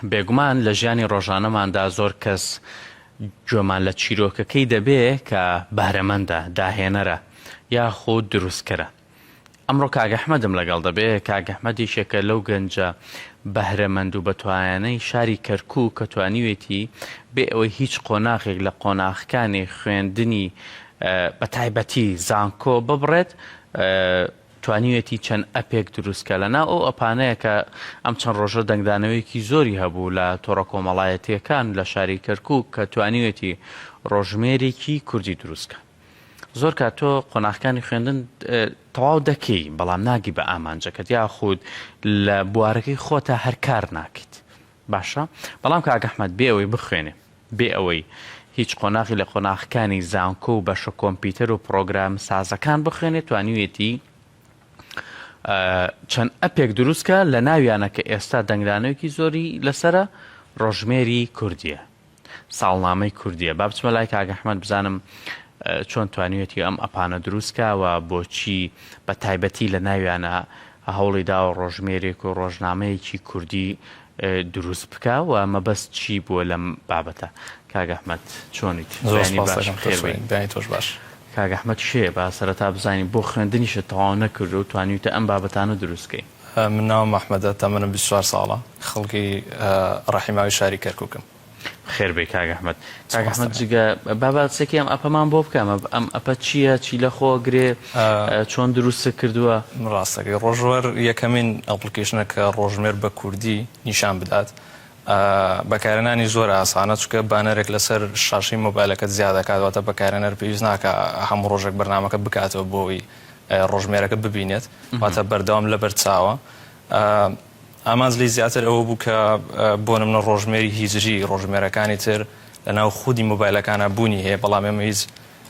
بێگومان لە ژیانی ڕۆژانەماندا زۆر کەس گوێمان لە چیرۆکەکەی دەبێ کە بەهرەمەندە، داهێنەرە یاخود دروستکەرە. ئەمڕۆ کاک ئەحمەدم لەگەڵ دەبێ، کاک ئەحمەد یەکێکە لەو گەنجە بەهرەمەند و بەتوایانەی شاری کەرکووک کە توانیوێتی بێ ئەوەی هیچ قۆناغێک لە قۆناغەکانی خوێندنی بەتایبەتی زانکۆ ببڕێت، توانیوێتی چەند ئەپێک دروستکە لە ناو ئەو ئەپانەیە کە ئەم چەند ڕۆژە دەنگدانەوەیەکی زۆری هەبوو لە تۆڕە کۆمەڵایەتییەکان لە شاری کەرکووک کە توانیوێتی ڕۆژژمێرێکی کوردی دروستکە زۆر کات تۆ قۆناخەکانی خوێندن تەواو دەکەی بەڵام ناگی بە ئامانجەکەت یاخود لە بوارەکەی خۆتا هەر کار ناکەیت باشە بەڵام کاک احمد بێ ئەوەی بخوێنێ بێ ئەوەی هیچ قۆناغی لە قۆناغەکانی زانکۆ و بەشە کۆمپیوتەر و پڕۆگرام سازەکان بخوێنێ توانیوێتی چەند ئەپێک دروستکە لە ناویانە کە ئێستا دەنگدانەوەکی زۆری لەسرە ڕۆژمێری کوردیە ساڵنامەی کوردیە با بچمە لای کاک احمد بزانم چۆن توانیوێتی ئەم ئەپانە دروست کا و بۆچی بە تایبەتی لە ناویانە هەوڵی داوە ڕۆژمێرێک و ڕۆژنامەیەکی کوردی دروست بکا و مەبەست چی بووە لەم بابەتە کاک احمد چۆنیت زۆر باش خێر بێت دانی تۆش باش کاک احمد کێ با سەرەتا بزانین بۆ خوێندنیشت تەواو نەکردو توانیوتە ئەم بابەتانە دروست کەی. من ناوم ئەحمەدە تەمەنم بیست و چوار ساڵە خەڵکی ڕەحیماوی شاری کەرکوکم. بەخێر بێی کاک ئەحمەد. کاک ئەحمەد جگە با باسێکی ئەم ئەپەمان بۆ بکە ئەم ئەپە چییە چی لەخۆ گرێ چۆن دروستت کردووە؟ ڕاستەکەی ڕۆژوەر یەکەمین ئەپڵکیشنە کە ڕۆژمێر بە کوردی نیشان بدات بەکارێنانی زۆر ئاسانە چونکە بانەرێک لەسەر شاشەی مۆبایلەکەت زیا دەکات واتە بەکارێنەر پێویست ناکا هەموو ڕۆژێک بەرنامەکە بکاتەوە بۆی ڕۆژمێرەکە ببینێت واتە بەردەوام لەبەر چاوە ئامانج لی زیاتر ئەوە بوو کە بۆ نمنە ڕۆژمێری هیجری ڕۆژمێرەکانی تر لە ناو خودی مۆبایلەکانە بوونی هەیە بەڵام ئێمە هیچ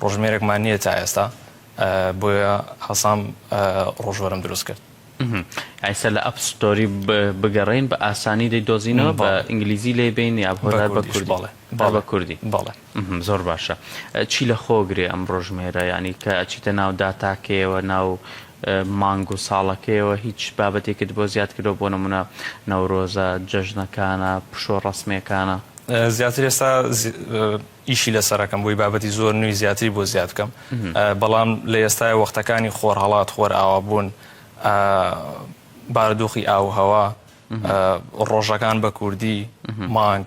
ڕۆژمێرێکمان نییە تا ئێستا بۆیە هەسام ڕۆژوەرم دروست کرد ئایسە لە ئەپ ستۆری بگەڕین بە ئاسانی دەی دۆزینەوە بە ئینگلیزی لێ بین یا بۆ بە کوردی بە کوردی بەڵێ ئەهمم زۆر باشە چی لە خۆ گرێ ئەم ڕۆژمێرە یانی کە ئەچیتە ناو داتاکەیەوە ناو مانگ و ساڵەکەیەوە هیچ بابەتێکت بۆ زیاد کردوە بۆ نمونە نەورۆزە جەژنەکانە پشوە ڕەسمیەکانە. زیاتر ئێستا ئیشی لەسەرەکەم بۆی بابەتی زۆر نوی زیاتری بۆ زیاد بکەم بەڵام لە ئێستای وەختەکانی خۆرهەڵات خۆر ئاوا بوون بارودۆخی ئاووهەوا ڕۆژەکان بە کوردی مانگ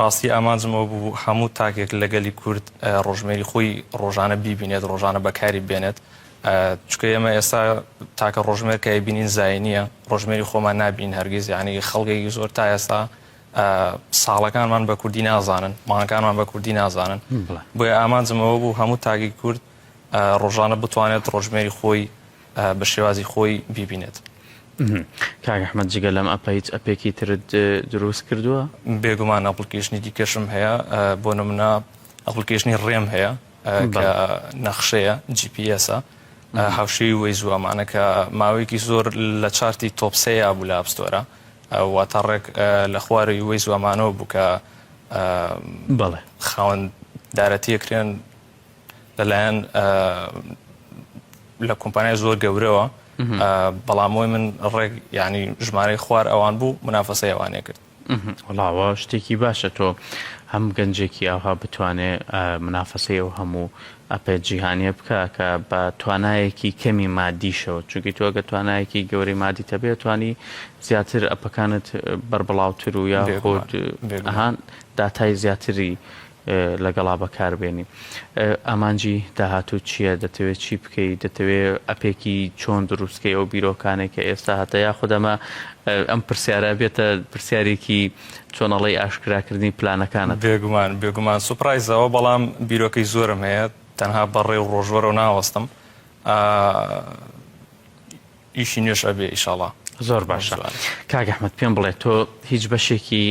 ڕاستی ئامانجم ئەوە بوو هەموو تاکێک لە گەلی کورد ڕۆژمێری خۆی ڕۆژانە بیبینێت، ڕۆژانە بەکاری بێنێت، چونکە ئێمە ئێستا تاکە ڕۆژمێر کە ئەیبینین زایینییە، ڕۆژمێری خۆمان نابینین هەرگیز، یانی خەڵکێکی زۆر تا ئێستا ساڵەکانمان بە کوردی نازانن، مانگەکانمان بە کوردی نازانن، بۆیە ئامانجم ئەوە بوو هەموو تاکی کورد ڕۆژانە بتوانێت ڕۆژمێری خۆی بە شێوازی خۆی بیبینێت. کاک احمد جگە لەم ئەپە هیچ ئەپێکی ترت دروست کردووە؟ بێگومان ئەپڵکیشنی دیکەشم هەیە بۆ نمونە ئەپڵکیشنی ڕێم هەیە کە نەخشەیە GPS هاوشێوی وەی زووامانە کە ماوەیەکی زۆر لە چارتی تۆپسەیە بوو لە ئاپستۆرە وا تا ڕێک لە خوارەوەی وەی زووامانەوە بوو کە بەڵێ خاوەن دارەتیەکرێن لەلایەن لە کۆمپانیای زۆر گەورەوە بەڵام بۆی من ڕێک ینی ژمارەی خوار ئەوان بوو منافەسە ئەوانێ کرد وڵاوە شتێکی باشە تۆ هەم گەنجێکی ئاها بتوانێ منافەسەی ئەو هەموو ئەپێ جیهانیە بکە کە بە توانایەکی کەمی مادیشەوە چونکی تۆ گە توانایەکی گەوری مادی تەبێت توانی زیاتر ئەپەکانت بربڵاوتر و یا خۆت هەان داتای زیاتری لەگەڵا بەکار بێنی ئامانجی داهاتووت چییە دەتەوێت چی بکەیت دەتەوێت ئەپێکی چۆن دروستکەی ئەو بیرۆکانێک کە ئێستا هەتە یاخود ئەمە ئەم پرسیارە بێتە پرسیارێکی چۆن ئەڵێی ئاشکراکردنی پلانەکانت بێگومان بێگومان سوپرایزەوە بەڵام بیرۆکەی زۆرم هەیە تەنها بەڕێ و ڕۆژوەرەوە ناوەستم ئیشی نوێش ئەبێ ئیشاڵا زۆر باشە کاگەحمد پێم بڵێ تۆ هیچ بەشێکی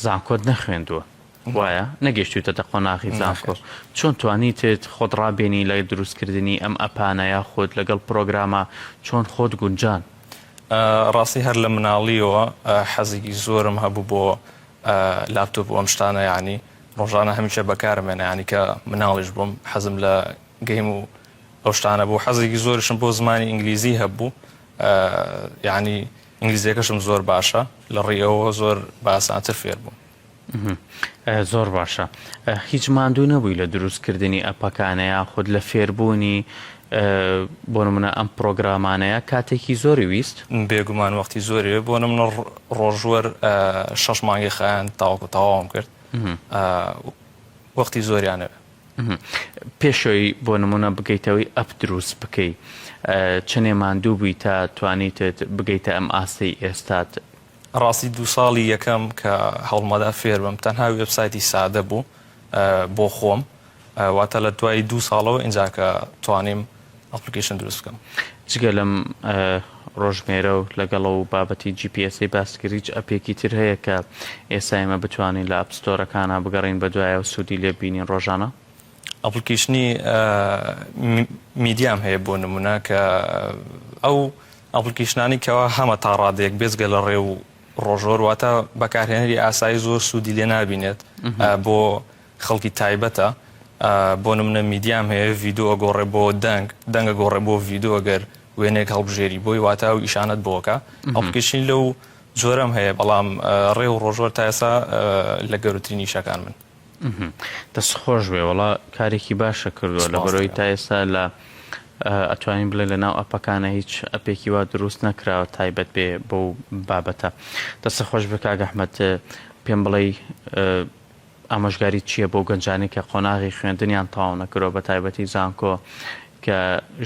زانکۆت نەخوێندووە وایە نەگەشتویتەتە قۆناغی زانکۆ چۆن توانیتت خۆت ڕابێنی لە دروست کردنی ئەم ئەپانە یاخود لەگەڵ پرۆگرامە چۆن خۆت گونجان. ڕاستی هەر لە مناڵیەوە حەزێکی زۆرم هەبوو بۆ لاپتۆپ و ئەم شتانە یانی ڕۆژانە هەمیشە بەکارم هێنا یانی کە مناڵیش بووم حەزم لە گەیم و ئەو شتانە بوو حەزێکی زۆرشم بۆ زمانی ئینگلیزی هەبوو یانی ئینگلیزیەکەشم زۆر باشە لە ڕووی ئەوەوە زۆر بە ئاسانتر فێر بووم. زۆر باشە هیچ ماندوو نەبووی لە دروست کردنی ئەپەکانە یاخود لە فێربوونی بۆ نمونە ئەم پرۆگرامانەیە کاتێکی زۆری ویست؟ بێگومان وەختی زۆری وێ بۆ نمونە ڕۆژوەر شەش مانگی خایاند تاوەکو تەواوم کرد وەختی زۆریانەوێ پێشەوەی بۆ نمونە بگەیتەوەی ئەپ دروست بکەی چنێ ماندوو بووی تا توانیتت بگەیتە ئەم ئاستەی ئێستات ڕاستی دوو ساڵی یەکەم کە هەوڵمەدا فێربم تەنها وێبسایتی سادە بوو بۆ خۆم واتە لە دوای دوو ساڵەوە ئینجا کە توانیم ئەپلیکیشن دروست بکەم جگە لەم ڕۆژمێرە و لەگەڵە و بابەتی جیپیسی باسکریج ئەپێکی تر هەیە کە ئێستا ئێمە بتوانین لە ئەپستۆرەکانە بگەڕین بە دوایە و سوودی لێ بینین ڕۆژانە ئەپلیکیشنی میدیام هەیە بۆ نمونە کە ئەو ئەپڵکیشنانی کەوا هەمە تا ڕادەیەک بێجگە لە ڕێ و ڕۆژۆر واتە بەکارهێنەری ئاسایی زۆر سوودی لێ نابینێت بۆ خەڵکی تایبەتە بۆ نمونە میدیام هەیە ڤیدۆ ئەگۆڕێ بۆ دەنگ دەنگ ئەگۆڕێ بۆ ڤیدۆ گەر وێنەیەک هەڵبژێری بۆی واتە و ئیشانەت بۆ ئەکا ئەپڵکیشنی لەو جۆرەم هەیە بەڵام ڕێ و ڕۆژۆر تا ئێستا لە گەورەترین ئیشەکان من. دەست خۆش بێ وەڵا کارێکی باشە کردوە سپاس لەبەرەوەی تا دەکەم ئێستا لە ئەتوانین بڵێ لە ناو ئەپەکانە هیچ ئەپێکی وا دروست نەکراوە تایبەت بێ بەو بابەتە دەستە خۆش بێ کاک ئەحمەد پێم بڵێی ئامۆژگاریت چییە بۆ گەنجانی کە قۆناغی خوێندنیان تەواو نەکرۆ بە تایبەتی زانکۆ کە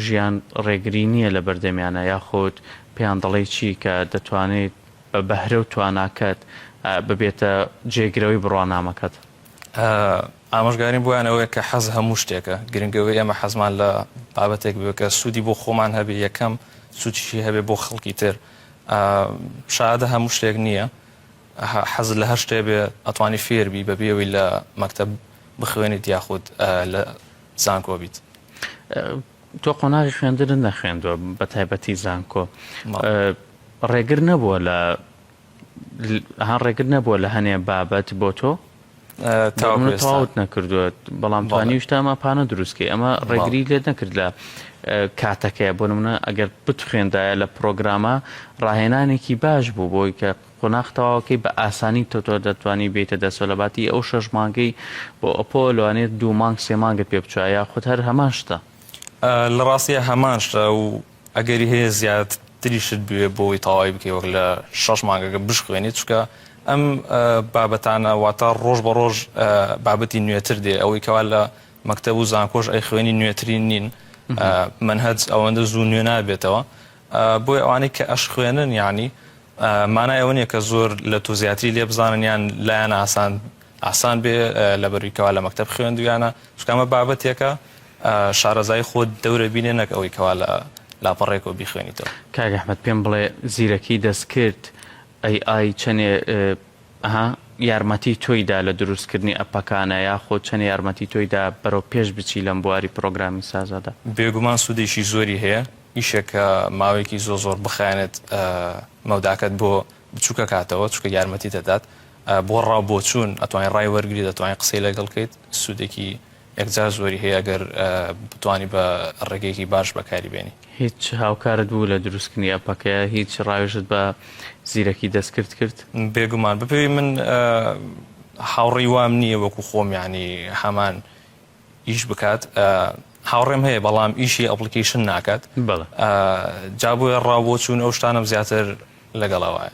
ژیان ڕێگری نییە لە بەردەمیانە یاخود پێیان دەڵێی چی کە دەتوانێت بە بەهرە و تواناکەت ببێتە جێگرەوەی بڕوانامەکەت. ئامۆژگاریم بۆیان ئەوەیە کە حەز هەموو شتێکە، گرنگە ئەوەی ئێمە حەزمان لە بابەتێک بێت کە سوودی بۆ خۆمان هەبێت یەکەم، سوودیشی هەبێت بۆ خەڵکی تر. شەهادە هەموو شتێک نییە، حەزت لە هەر شتێک بێت ئەتوانی فێر بیت بەبێ ئەوەی لە مەکتەب بخوێنیت یاخود لە زانکۆ بیت. تۆ قۆناغی خوێندنت نەخوێندوە بەتایبەتی زانکۆ ڕێگر نەبووە لە هەر ڕێگر نەبووە لە هەنێ بابەت بۆ تۆ تاوت نەکردووە بەڵام توانیشتا ئەمە پانە دروستکەی ئەمە ڕێگری لێت نەکرد لە کاتەکەی بۆ منە ئەگەر بتخوێندایە لە پرۆگرامە ڕاهێنانێکی باش بوو بۆی کە قۆناخ تەواوەکەی بە ئاسانی تۆ تۆ دەتوانی بێیتە دەستەوە لە باتی ئەو شەش مانگەی بۆ ئەپۆ لەوانەیە دوو مانگ سێ مانگت پێ بچوە یاخود هەر هەمان شتە؟ لە ڕاستیە هەمان شتە و ئەگەری هەیە زیاد تریشت بوێ بۆ ئەوەی تەواوی بکەی وەک لە شەش مانگەکە بشخوێنی چونکە ئەم بابەتانە واتە ڕۆژ بە ڕۆژ بابەتی نوێتر دێ ئەوەی کەوا لە مەکتەب و زانکۆش ئەی خوێنی نوێترین نین مەنهەج ئەوەندە زوو نوێ نابێتەوە بۆیە ئەوانەی کە ئەشخوێنن یانی مانای ئەوە نیە کە زۆر لە تۆ زیاتری لێ بزانن یان لایان ئاسان ئاسان بێ لەبەروی کەوا لە مەکتەب خوێندویانە چونکە ئەمە بابەتێکە شارەزایی خۆت دەورە بینێ نەک ئەوەی کەوا لە لاپەڕێکەوە بیخوێنیتەوە. کاک احمد پێم بڵێ زیرەکی دەستکرد AI چەنێ ئەها یارمەتی تۆی دا لە دروست کردنی ئەپەکانە یاخۆ چەنێ یارمەتی تۆی دا بەرەو پێش بچی لەم بواری پڕۆگرامی سازادا؟ بێگومان سودێکی زۆری هەیە. ئیشێک کە ماوەیەکی زۆ زۆر بخایەنێت مەوداکەت بۆ بچوکە کاتەوە چونکە یارمەتی دەدات بۆ ڕاو بۆچوون ئەتوانی ڕای وەرگری دەتوانین قسەی لەگەڵ کەیت سوودێکی یەکجار زۆری هەیە ئەگەر بتوانی بە ڕێگەیەکی باش بەکاری بێنی. هیچ هاوکارت بوو لە دروستکردنی ئەپەکە؟ هیچ ڕاوێژت بە زیرەکی دەستکرد کرد؟ بێگومان بەپێی من هاوڕێی وام نییە وەکو خۆم یانی هەمان ئیش بکات هاوڕێم هەیە بەڵام ئیشی ئەپلیکیشن ناکات جا بۆیە ڕاو بۆ چوون ئەو شتانم زیاتر لەگەڵەوەە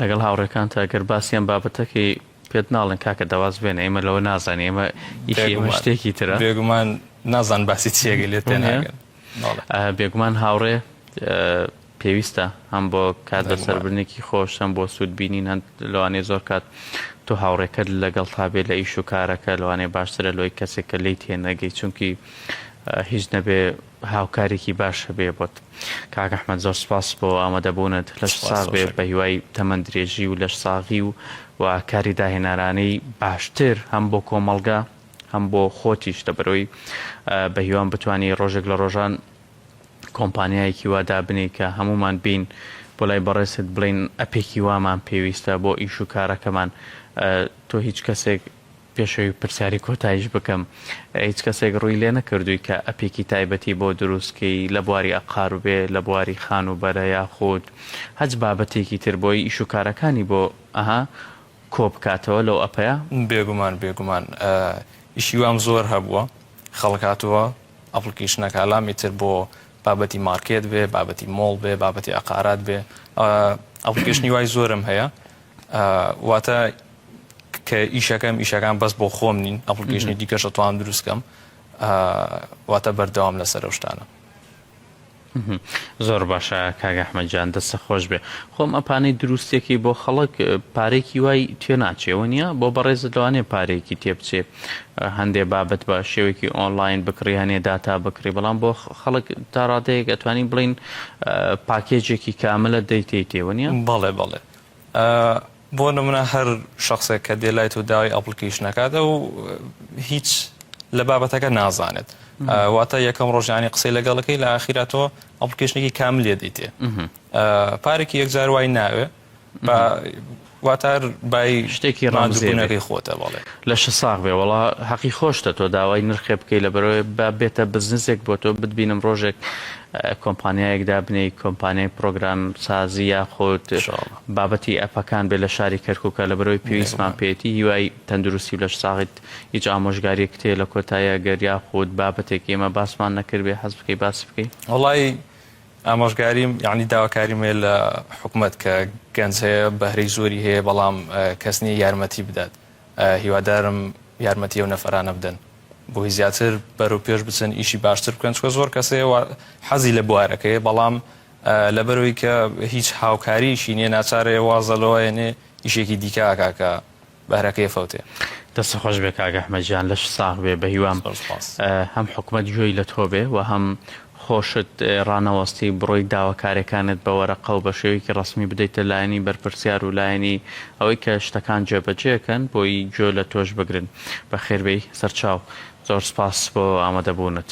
لەگەڵ هاوڕێکان تا گەر باسییان بابەتەکەی پێت ناڵن کاکە دەواز بێن ئێمە لەوە نازان ئێمە شتێکی ترە بێگومان نازان باسی چیەگە لێت بێگومان هاوڕێ پێویستە هەم بۆ کات بەسەربردنێکی خۆش هەم بۆ سوود بینین هەن لەوانەیە زۆر کات تۆ هاوڕێکەت لەگەڵتا بێت لە ئیش و کارەکە لەوانەیە باشترە لۆی کەسێک کە لێی تێنەگەی چونکی هیچ نەبێ هاوکارێکی باش هەبێ بۆت کاک ئەحمەد زۆر سپاس بۆ ئامادەبوونت لەش سپاس ساغ بێ ڕۆژێک بە هیوای تەمەن درێژی و لەش ساغی و و کاری داهێنەرانەی باشتر هەم بۆ کۆمەڵگە هەم بۆ خۆتیش لەبەرئەوەی ئە، بە هیوام بتوانی ڕۆژێک لە ڕۆژان کۆمپانیایەکی وا دابنێی کە هەموومان بێین بۆ لای بەڕێزت بڵێین ئەپێکی وامان پێویستە بۆ ئیش و کارەکەمان تۆ هیچ کەسێک پێش ئەوی پرسیاری کۆتایش بکەم هیچ کەسێک ڕووی لێ نەکردووی کە ئەپێکی تایبەتی بۆ دروستکەی لە بواری ئەقار و بێ لە بواری خان و بەرە یاخود هەچ بابەتێکی تر بۆی ئیش و کارەکانی بۆ ئەها کۆ بکاتەوە لەو ئەپەیە؟ بێگومان بێگومان ئیشی وام زۆر هەبووە خەڵک هاتووە ئەپڵکەیشنەکە ئالامی تر بۆ بابەتی مارکێت بێ بابەتی مۆڵ بێ بابەتی عقارات بێ ئەپڵکەیشنی وای زۆرم هەیە واتە کە ئیشەکەم ئیشەکان بەس بۆ خۆم نین ئەپڵکەیشنی دیکەشە توان دروستکەم واتە بەردەوام لەسەر شتانە زۆر باشە کاک احمد جان دەستت خۆش بێ خۆم ئەپانەی دروستێکی بۆ خەڵک پارێکی وای تێ ناچێ وەنیە بۆ بەڕێزت لەوانێ پارێکی تێ بچێ هەندێ بابەت بە شێوێکی ئۆنلاین بکڕی هەنێ داتا بکڕی بەڵام بۆ خەڵک تا ڕادەیەک ئەتوانی بڵین پاکێجێکی کاملە دەیتەی تێوەنیە بەڵێ بەڵێ بۆ نمونە هەر شەخسێک کە دێ لای تۆ داوای ئەپڵکیشن ئەکات ئەو هیچ لە بابەتەکە نازانێت واتە یەکەم ڕۆژانی قسەی لەگەڵەکەی لە ئاخیرا تۆ ئەپڵکیشنێکی کام لێ دیتێ پارێکی یەکجار وای ناوێ واتار بای شتێکی ڕانزیێنەکەی خۆتە بەڵێ لە شە ساغ بێ وڵا حەقی خۆشتە تۆ داوای نرخێ بکەی لە بەرەوەی با بێتە بزنسێک بۆ تۆ بتبینم ڕۆژێک کۆمپانیایەکدا بنێی کۆمپانیای پرۆگرام سازی یاخۆت بابەتی ئەپەکان بێت لە شاری کەرکوکە لەبەرئەوەی پێویستمان پێیەتی هیوای تەندروستی و لەش ساغیت هیچ ئامۆژگاریەکت هەیە لە کۆتایی ئەگەر یاخود بابەتێک ئێمە باسمان نەکردبێ حەز بکەی باسی بکەی؟ وەڵایی ئامۆژگاریم یانی داواکاریم هەیە لە حکومەت کە گەنج هەیە بەهرەی زۆری هەیە بەڵام کەس نیە یارمەتی بدات هیوادارم یارمەتی ئەو نەفەرانە بدەن بۆی زیاتر بەرەو پێش بچن ئیشی باشتر بکەن چکە زۆر کەس هەیە حەزی لە بوارەکەیە بەڵام لەبەرئەوەی کە هیچ هاوکاریەکی نیە ناچارێ وازە لەوە ئەنێ ئیشێکی دیکە ئەکا کە بەهرەکەی ئەفەوتێ. دەستت خۆش بێ کاک ئەحمەد گیان لەشت ساغ بێ بەهیوام زۆر سوپاس. هەم حکومەت گوێی لە تۆ بێ و هەم خۆشت ڕانەوەستی بڕۆی داواکاریەکانت بە وەرەقە و بە شێوەیەکی ڕەسمی بدەیتە لایەنی بەرپرسیار و لایەنی ئەوەی کە شتەکان جێبەجێ ئەکەن بۆی گوێ لە تۆش بگرن بەخێربێی سەرچاو زۆر سوپاس بۆ ئامادەبوونت.